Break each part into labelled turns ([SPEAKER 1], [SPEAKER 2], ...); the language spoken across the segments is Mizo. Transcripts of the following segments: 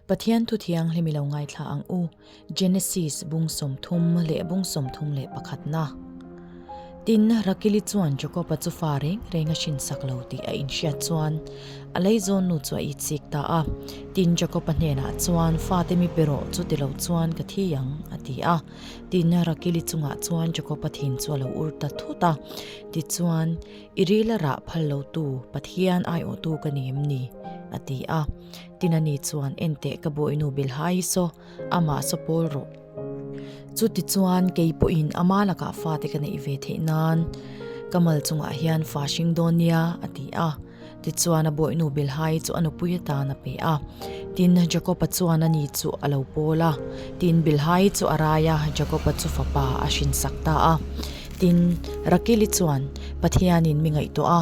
[SPEAKER 1] Pathian Thu Thianghlim i lo ngaithla ang u, Genesis bung sawmthum leh bung sawmthum leh pakhatna. Tin, Rakili chuan Jacob-a chu fa reng reng a hrinsak lo tih a inhriat chuan a lei zawnnu chu a itchik ta a. Tin, Jacob-a hnenah chuan, Fate mi pe rawh, chuti lo chuan ka thi ang, a ti a. Tin, Rakili chungah chuan Jacob-a thin chu a lo ur ta thut a. Tichuan, I rila rah phal lotu Pathian aiawhtu ka ni em ni? a ti a. Tina nih chuan, Enteh ka bawihnu Bilha hi saw, amah saw pawl rawh. Chutichuan kei pawhin ama lakah fate ka neih ve theih nan ka mal chungah hian fa hring dawn nia, a ti a. Tichuan a bawihnu Bilha hi chu a nupui atan a pe a. Tin, Jakopa chuan ani chu a lo pawl a. Tin, Bilha hi chu a rai a, Jakopa chu fapa a hrinsak ta a. Tin, Rakili chuan, Pathianin mi ngaihtuah a.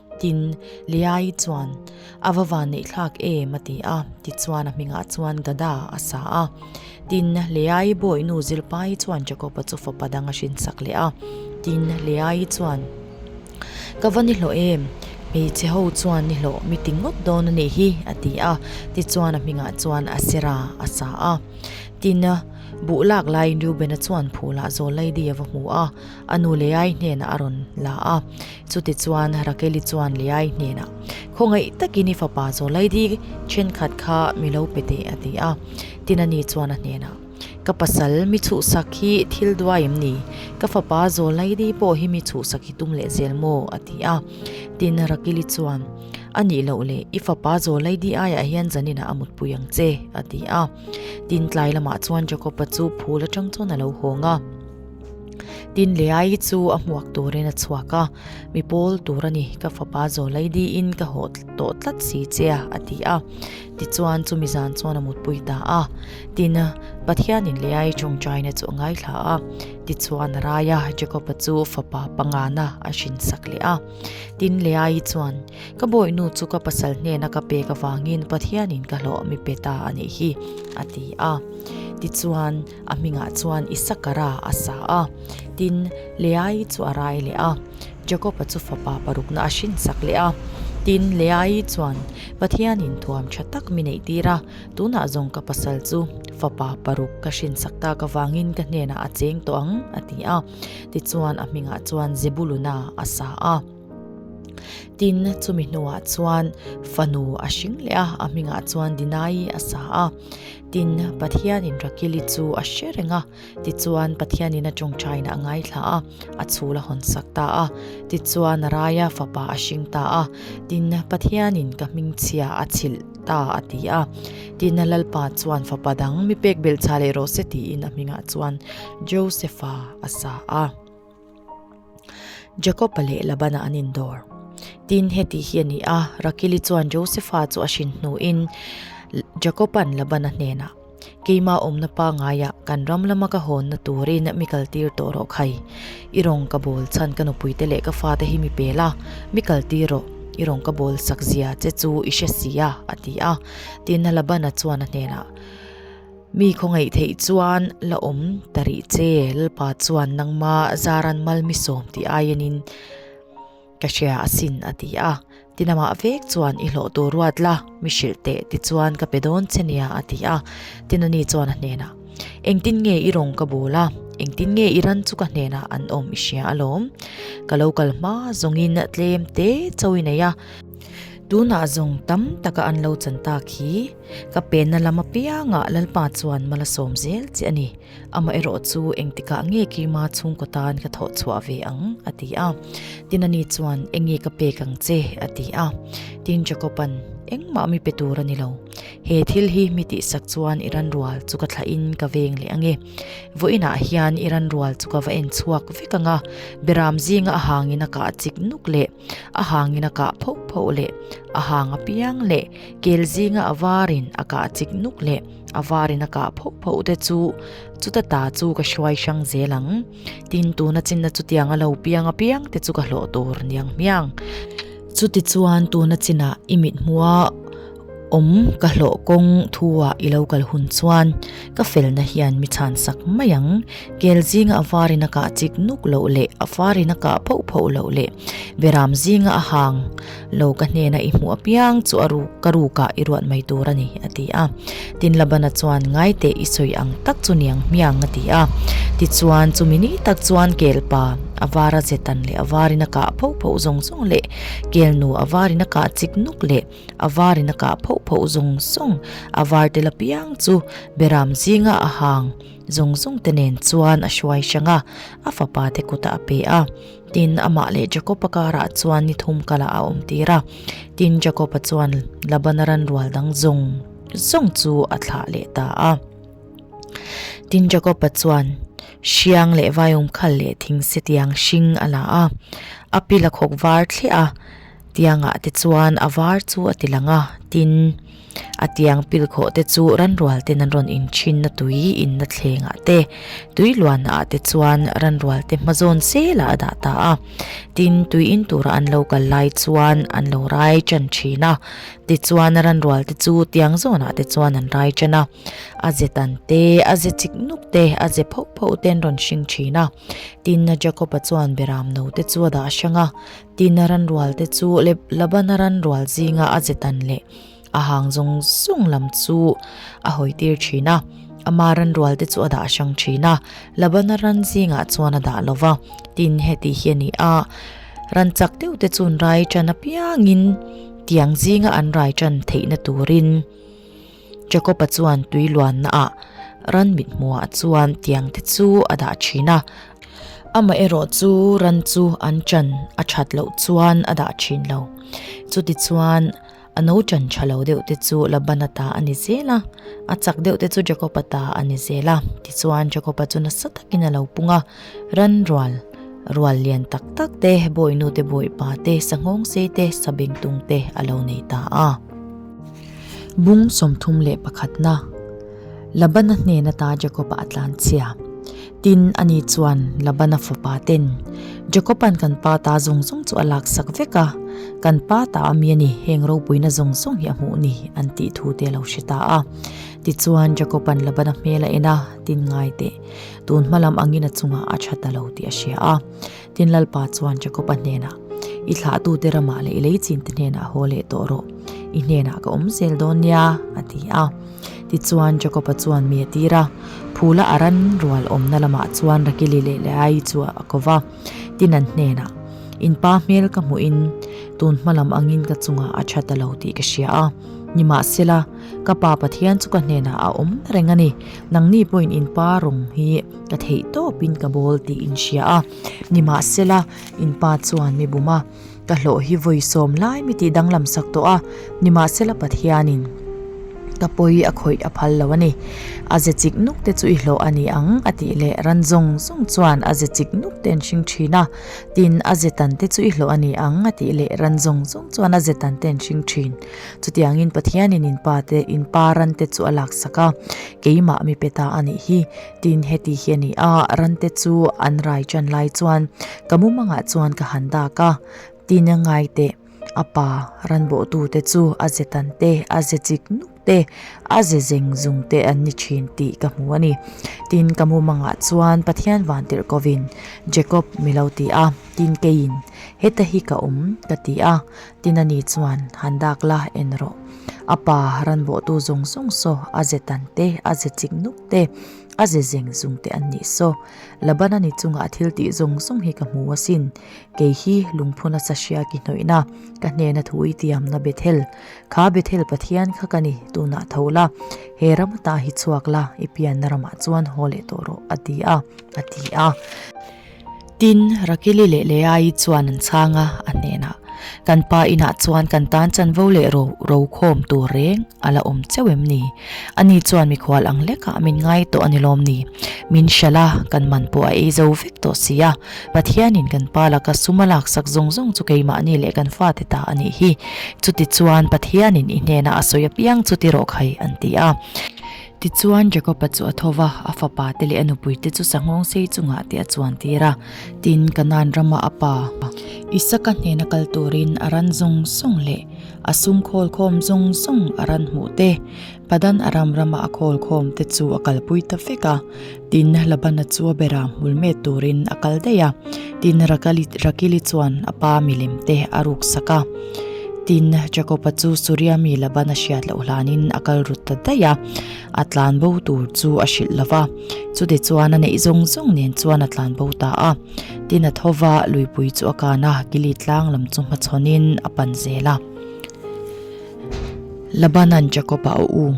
[SPEAKER 1] Tin, Leaii chuan, A va van neih thlak em, a ti a. Tichuan, a hmingah chuan Gada a sa a. Tin, Leaii bawihnu Zilpai chuan Jakopa chu fapa dang a hrinsak leh a. Tin, Leaii chuan, Ka va ni hlawh em? Hmeichhe ho chuan ni hlawh, mi ti ngawt dawn a nih hi, a ti a. Tichuan, a hmingah chuan Asera a sa a. Tin, buh lak laiin Reubena chuan phul ah Zawlaidia va hmu a, a nu Leaii hnenah a rawn la a. Chutichuan Rakeli chuan Leai hnenah, Khawngaih takin i fapa chaw lai dik, thenkhat kha mi lo pe teh, a ti a. Tinani chuan a hnenah, Ka pasal, mi chuhsak hi thil duai em ni? Ka fapa chaw lai dik pawh hi mi chuhsak hi tum leh zel maw? a ti a. Tin, Rakeli chuan, A nih loh le, i fapa chaw lai dik aiah hian Janina a mutpui ang che, a ti a. Tin, tlai lamah chuan Jakopa chu phul atang chuan a lo hawng a. Tin leh ai chu a hmuak turin a chhuak a, mi pawl tur a ni, ka fapa zawlei diin ka haw tawh tlat si che a, a ti a. Tichuan chumi zan chuan a mutpui ta a. Tin, Pathianin leh ai chung China chu a ngaithla a. Tichuan a rai a, Jacob-a chu fapa pangana a hrinsak leh a. Tin leh ai chuan, Ka bawihnu chu ka pasal hnena ka pek avangin Pathianin ka hlawh mipe ta a nih hi, a ti a. Tichuan. A hmingah chuan Isakara a sa a, tin, Leai chu a rai leh a. Jakoba chu fapa parukna a hrinsak leh a, tin, Leai chuan, Pathianin thuam tha tak mi neih tir a, tunah zawng ka pasal chu fapa paruk ka hrinsak tak avangin ka hnenah a cheng tawh ang, a ti a. Tichuan, a hmingah chuan Zebuluna a sa a. Tin, chumi hnuah chuan fanu a hring leh a, a hmingah chuan Dinai a sa a. Tin, Pathianin Rakil i chu a hre reng a, tichuan Pathianin a ṭawngṭhain a ngaithla a, a chhûl a hawn sak ta a, tichuan a raia fapa a hring ta a. Tin, Pathianin ka hmingchhia a chhilh ta a ti a. Tin, Lalpa chuan fapa dang mi pek belhchha leh rawh se tiin a hmingah chuan Josepha a sa a. Jakoba leh Labana an indawr. Tin heti hi a ni a, Rakili chuan Josefa chu a hrin hnuin Jakoban Labana hnenah, Keimah awmna pangaiah kan ram lama ka hawnna turin mi kal tir tawh rawh khai. I rawn ka bawl chhan ka nupuite leh ka fate hi mi pel a, mi kal tir rawh, i rawn ka bawl sak zia che chu i hre si a, a ti a. Tin Labana chuan a hnenah, Mi khawngaih theih chuan la awm ta rih che, Lalpa chuan nangma zaran mal mi sawm ti aiin in ka hria asin a ti a, ti namah vek chuan i hlawh tur ruat la, mi hrilh teh tichuan ka pe dawn che nia a ti a, ti nani chuan a hnenah engtin nge i rawn ka bul a, engtin nge i ran chu ka hnenah an awm i hria alawm, ka lo kal hma zawngin tlem te chauh i nei a, tunah zawng tam taka an lo chan tak hi. Ka penna lam apiangah Lalpa chuan mal a sawm zel che a ni. Amaherawh chu engtikah nge keima chhungkaw tan ka thawh chhuah ve ang? a ti a. Tin a ni chuan, Enge ka pek ang che? a ti a. Tin Jakoban, Engmah mi pe tur a ni lo. He thil hi mi tihsak chuan i ranrual chu ka thlahin ka veng leh ange. Vawiinah hian i ranrual chu ka va en chhuak vek anga, Biram zinga a hangin a kah chik nuk le. a hangin a kah phauh phauh leh a hang a piang leh kel zinga a varin a kah chik nuk leh a varin a kah phauh phauh te chu chuta ta chu ka hruai hrang zel ang tin tuna chinna chutiang a lo piang apiang te chu ka hlawh tur niang hmiang chuti chuan tuna chinah i mithmuaa. Awm ka hlawh kawng thu a i lo kal hun chuan ka felna hian mi chhan sak mai ang. Kel zinga a var in a kah chik nuk loh leh a var in a kah phauh phauh loh leh beram zinga a hang lo ka hnena i hmuh apiang chu a ruk ka ruk ah i ruat mai tur a ni a ti a. Tin Labana chuan ngai teh i sawi ang tak chu niang hmiang a ti a. Tichuan chumi ni tak chuan Kelpa a vara zetan leh a var in a kah phauh phauh zawng zawng leh Kelnu a var in a kah chik nuk leh a var in a kah phauh phauh zawng zawng, a var tel apiang chu beram zinga a hang zawng zawng te nen chuan a hruai hrang a, a fapa te kutah a pe a, tin amah leh Jakob a karah chuan ni thum kalah a awm tir a, tin Jakob a chuan Laban a ranrual dang zawng zawng chu a thlah leh ta a, tin Jakob a chuan hriang leh vaiawm khal leh thing setiang hring a la a, a pil a khawk var thliah a. Tiangah te chuan a var chu a ti lang a, tin, a tiang pil khawh te chu Ranrual ten an rawn in thinna tui inna thlengah te, tui luanna ah te chuan Ranrual te hma zawn selah a dah ta a, tin, tui in tura an lo kal lai chuan an lo rai tan thin a, tichuan Ranrual te chu tiang zawnah te chuan an rai tan a, a ze tan te, a ze chik nuk te, a ze phauh phauh te an rawn hring thin a, tin, Jacob-a chuan Beramno te chu a dah hrang a. Tina ranrual te chu Labana ranrual zinga a zetan leh a hang zawng zawng lam chu a hawi tir thin a, ama ranrual te chu a dah hrang thin a, Labana ran zingah chuan a dah lova. Tin heti hi a ni a, ran chak deuh te chun rai tan apiangin tiang zinga an rai tan theihna turin, Jakopa chuan tui luanna ah ran mit hmua ah chuan tiang te chu a dah thin a. Amah erawh chu ran chu an chan a that loh chuan a dah thin lo. Chuti chuan a no chan tha lo deuh te chu Labana ta a ni zel a, a chak deuh te chu Jakopa ta a ni zel a. Tichuan Jakopa chu nasa takin a lo pung a. Ranrual, rual lian tak tak te, bawinu te, bawipa te, sanghawng sei te, sabeng tung te a lo nei ta a. Bung sawmthum leh pakhatna, Labana hnen ata Jakoba a tlanchhia. Tin, a nih chuan Labana fapa ten, Jakoban kan pa ta zawng zawng chu a lak sak vek a, kan pa ta ami a ni, heng ropuina zawng zawng hi a hmuh ni, an tih thu te a lo hre ta a. Tichuan, Jakoban Labana hmel a en a, tin ngai teh. Tun hmalam angin a chungah a that a lo tih a hria a. Tin Lalpa chuan Jakopa hnenah, I thlahtute ramah leh i lei chinte hnenah haw leh tawh rawh, i hnenah ka awm zel dawn nia, a ti a. Tichuan Jakopa chuan mi a tir a, phula a ran rual awmna lamah chuan Rakili leh Leai chu a ko va. Tin an hnenah, In pa hmel ka hmuhin tun hmalam angin ka chungah a that a lo tih ka hria a, nimahsela, Ka pa Pathian chu ka hnenah a awm reng a ni. Nangni pawhin in pa rawng hi ka theih tawpin ka bawl tih in hria a. Nimahsela, in pa chuan mi buma ka hlawh hi vawi sawm lai mi tih danglam sak tawh a. Nimahsela Pathianin ka pawi a khawih a phal lo a ni. A ze chik nuk te chu i hlawh a ni ang a tih leh ran zawng zawng chuan a ze chik nuk te an hring thin a. Tin, a ze tan te chu i hlawh a ni ang a tih leh ran zawng zawng chuan a ze tan te an hring thin. Chutiangin Pathianin in pa te, in pa rante chu a laksak a, keimah mi peta a nih hi. Tin, heti hi a ni a, rante chu an rai ṭan lai chuan ka mumangah chuan ka han dak a, tin a ngai teh, a pa ranbawhtu te chu a ze tan te, a ze chik nuk te, a ze zeng zung te an ni ṭhin tih ka hmu a ni. Tin, ka mumangah chuan Pathian van tirh kovin, Jacob, mi lo ti a, tin keiin, Heta hi ka um, ka ti a, Tin a nih chuan, Han dak la, en rawh. A pa ranbawhtu zawng zawng saw a ze tan te, a ze chik nuk te, a ze zeng zung te an nih saw. Labana ni chungah thil tih zawng zawng hi ka hmu asin. Kei hi lungphun a sahria ki hnawihna, ka hnena thu itiamna Bethel. Kha Bethel Pathian kha ka ni tunah tho la, he ram atah hi chhuak la, i pianna ramah chuan haw leh tawh rawh, a ti a, a ti a. Tin, Rakili leh Leai chuan an chhang a, a hnenah, Kan pa inah chuan kan tan chanvo leh ro ro khawm tur reng a la awm cheu em ni? A ni chuan mikhual ang lekah min ngai tawh a ni lawm ni? Min hria la, kan man pawh a ei zo vek tawh si a, Pathianin kan pa laka sum a laksak zawng zawng chu keimahni leh kan fate ta a nih hi. Chutichuan Pathianin i hnenah a sawi apiang chuti rawh khai, an ti a. Tichuan Jakopa chu a tho va, a fapa te leh a nupui te chu sanghawng sei chungah te a chuan tir a. Tin, Kanaan rama a pa, Isaka hnena kal turin a ran zawng zawng leh a sungkhawl khawm zawng zawng a ran hmuh te, Padan-aram rama a khawl khawm te chu a kalpui ta vek a. Tin, Labana chu a bera hmul met turin a kal daih a. Tin, Rakali, Rakili chuan a pa milem te a ruk sak a. Tin, Jakopa chu Suriami Labana hriat loh hlanin a kal rut ta daih a, a tlan bo tur chu a hrilh lo va. Chute chuan a neih zawng zawng nen chuan a tlan bo ta a. Tin, a thova luipui chu a kan a, Gili tlang lam chu hmachhawnin a pan zel a. Labanan Jakopa a um.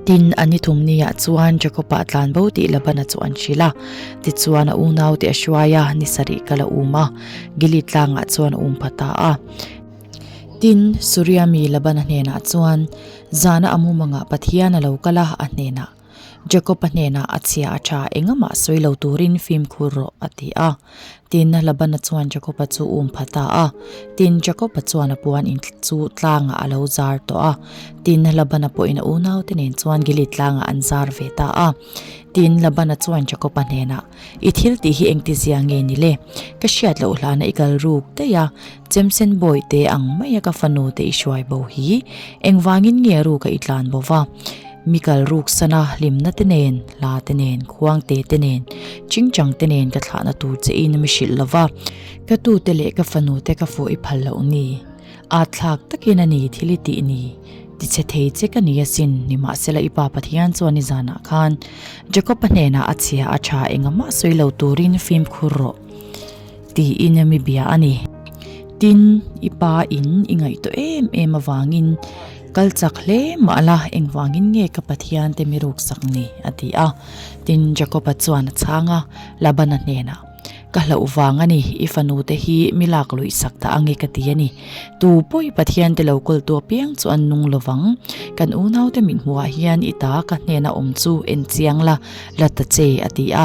[SPEAKER 1] Tin, a ni thum ni ah chuan Jacob a tlan bo tih Laban a chawh an hrilh a. Tichuan, a unau te a hruai a, ni sarih kal a um a, Gilead tlang ah chuan a um pha ta a. Tin, Suria mi Laban a hnen ah chuan zan a amu mang ah Pathian a lo kal a, a hnen ah Jacob a hnen ah a chhia a tha engah mah sawi lo tur in fimkhur rawh, a ti a. Tin, Labana chuan Jakoba chu um pha ta a. Tin, Jakoba chuan a puan in chu tlangah a lo zar tawh a. Tin, Labana pawhin a unaute nen chuan Gilead tlangah an zar ve ta a. Tin, Labana chuan Jakoba hnenah, I thil tih hi engtizia nge ni le? Ka hriat loh hlana i kal ruk daih a. Chemsen bawi te ang mai a ka fanu te i hruai bo hi, engvangin nge a ruk a i tlan bo va? Mi kal ruk sana hlimna te nen, hla te nen, khuang te te nen, chingchang te nen ka thlahna tur che in a mi hrilh lova, ka tu te leh ka fanu te ka fuahi phal loh ni? At thlak takin a ni thil i tih ni? Ti che thei che ka ni a sin, nimahsela i pa Pathian chuan i zanah khan Jacob-a hnenah a chhia a tha engah mah sawi lo turin fimkhur rawh. tiin a mi bia a ni. Tin, i pa in i ngaihtuah em em avangin kal chak hle mah la, engvangin nge ka Pathian te mi ruksak ni? a ti a. Tin, Jakoba chuan a chhang a, Labana hnenah, Ka hlauh vang a ni, i fanu te hi mi lak luihsak ta ange ka ti a ni. Tu pawi Pathian te lo kawltu apiang chu an nung lo vang. Kan unaute mithmuh ah hian i ta ka hnenah awm chu en chiang la, la ta che, a ti a.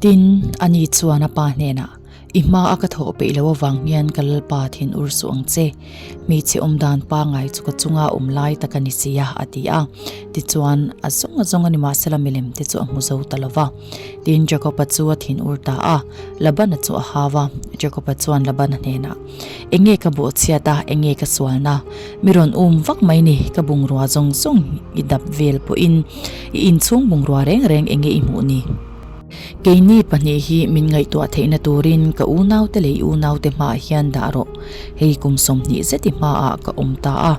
[SPEAKER 1] Tin, a ni chuan a pa hnenah, I hma a ka thawh peih lo avang hian ka lalpa thin ur suh ang che. Hmeichhe awm dan pangngai chu ka chunga awm lai tak a ni si a, a ti a. Tichuan, A zawng a zawng a ni mahsela milem te chu a hmu zo ta lo va. Tin, Jacob-a chu a thin ur ta a. Laban-a chu a hau a. Jacob-a chuan Laban-a hnenah. Enge ka bawhchhiat a, enge ka sualna? Mi rawn um vak mai ni, ka bungrua zawng zawng i dap vel pawhin i inchhung bungrua reng reng enge i hmuh ni? Keini pahnih hi min ngaihtuah theihna turin ka unaute leh i unaute hmaah hian dah rawh, hei kum sawmhnih zet i hmaah ka awm ta a.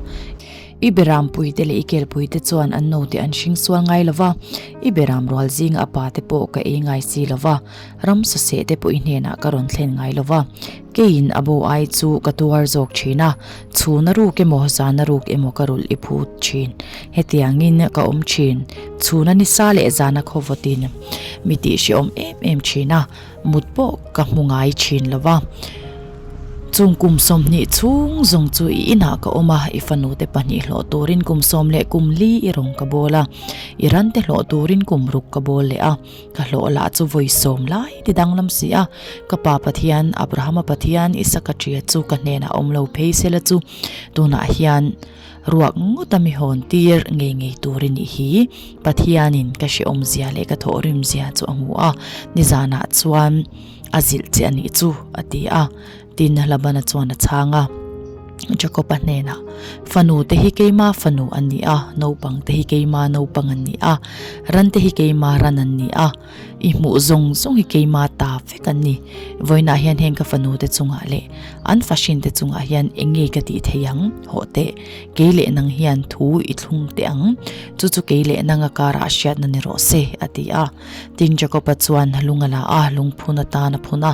[SPEAKER 1] I beram puite leh i kelpuite chuan an note an hring sual ngai lova, i beram rual zinga a pate pawh ka ei ngai si lova, ram sasehte pawh i hnenah ka rawn thlen ngai lova. Keiin a bo ai chu ka tuar zawk thin a, chhuna ruk emaw zana ruk emaw ka rulh i phut thin. Hetiangin ka awm thin, chhuna nisa leh zana khawvawtin mi tih hre awm em em thin a, mut pawh ka hmu ngai thin lo va. Chung kum sawmhnih chhung zawng chu i inah ka awm a, i fanute pahnih hlawh turin kum sawm leh kum li i rawn ka bawl a, i rante hlawh turin kum ruk ka bawl leh a. Ka hlawh lah chu vawi sawm lai ti danglam si a, ka pa Pathian, Abrahama Pathian, Isaka ṭhia chu ka hnenah awm lo phei sela chu tunah hian ruak ngawta mi hawn tir ngei ngei tur i nih hi, Pathianin ka hrehawmzia leh ka thawhrimzia chu a hmu a, nizanah chuan a zilh che a nih chu a ti a. Tina Labana chuan a chhang a, Jakopa hnenah, Fanu te hi keima fanu an ni a, naupang te hi keima naupang an ni a, ran te hi keima ran an ni a, i hmuh zawng zawng hi keima ta vek an ni. Vawiinah hian heng ka fanu te chungah leh an fahrin te chungah hian eng nge ka tih theih ang? Hawh teh, kei leh nang hian thu i thlung teh ang, chu chu kei leh nanga karah a hriatna ni rawh se, a ti a. Tin Jakopa chuan lung a la a, lungphun atan a phun a.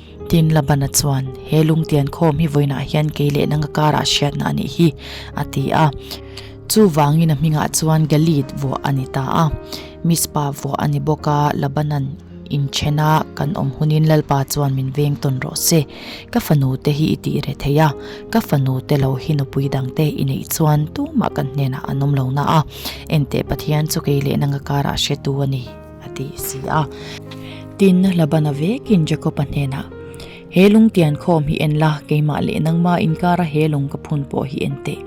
[SPEAKER 1] Tin, Labana chuan, He lungtian khawm hi vawiinah hian kei leh nanga karah hriatna a nih hi, a ti a. Chuvangin a hmingah chuan Galit vuah a ni ta a. Mizpa vuah a ni bawk a, Labanan in then a kan awm hunin lalpa chuan min veng tawn rawh se, ka fanu te hi i tih reh thei a, ka fanu te lo hi nupui dang te i neih chuan tumah kan hnenah an awm lo na a, enteh Pathian chu kei leh nanga karah hretu a ni. a ti si a. Tinna hla ban avekin Jakopa hnena, He lungtian khawm hi en la, keimah leh nangma inkara he lawng ka phun pawh hi en teh.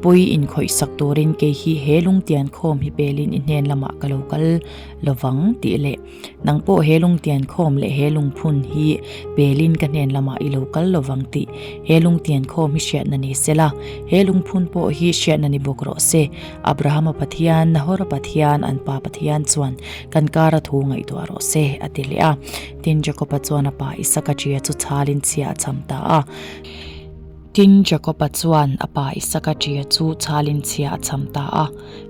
[SPEAKER 1] Pawi inkhawihsak turin kei hi he lungtian khawm hi pelin i hnen lamah ka lo kal lovang tih leh nang pawh he lungtian khawm leh he lungphun hi pelin ka hnen lamah i lo kal lovang tih he lungtian khawm hi hriatna ni sela he lungphun pawh hi hriatna ni bawk rawh se. Abrahama Pathian, Nahora Pathian, an pa Pathian chuan kan kara thu ngaihtuah rawh se, a ti leh a. Tin, Jakopa chuan a pa Isaka ṭia chu chhalin chhia a cham ta a. Tin, Jakopa chuan a pa Isaka ṭia chu chhalin chhia a cham ta a.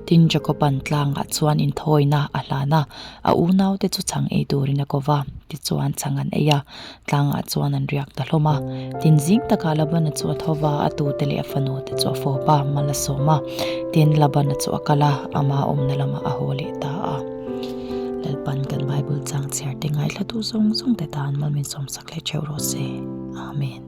[SPEAKER 1] Tin, Jakopan tlangah chuan inthawina a hlan a, a unaute chu chhang ei turin a ko va, tichuan chhang an ei a. Tlangah chuan an riak ta hlawm a. Tin zing takah Labana chu a tho va, a tute leh a fanu te chu a fawp a, mal a sawm a. Tin, Labana chu a kal a, ama awmna lamah a haw leh ta a. Lalpan kan Bible chang chhiarte ngaihthlatu zawng zawng te tan mal min sawm sak leh theuh rawh se. Amen.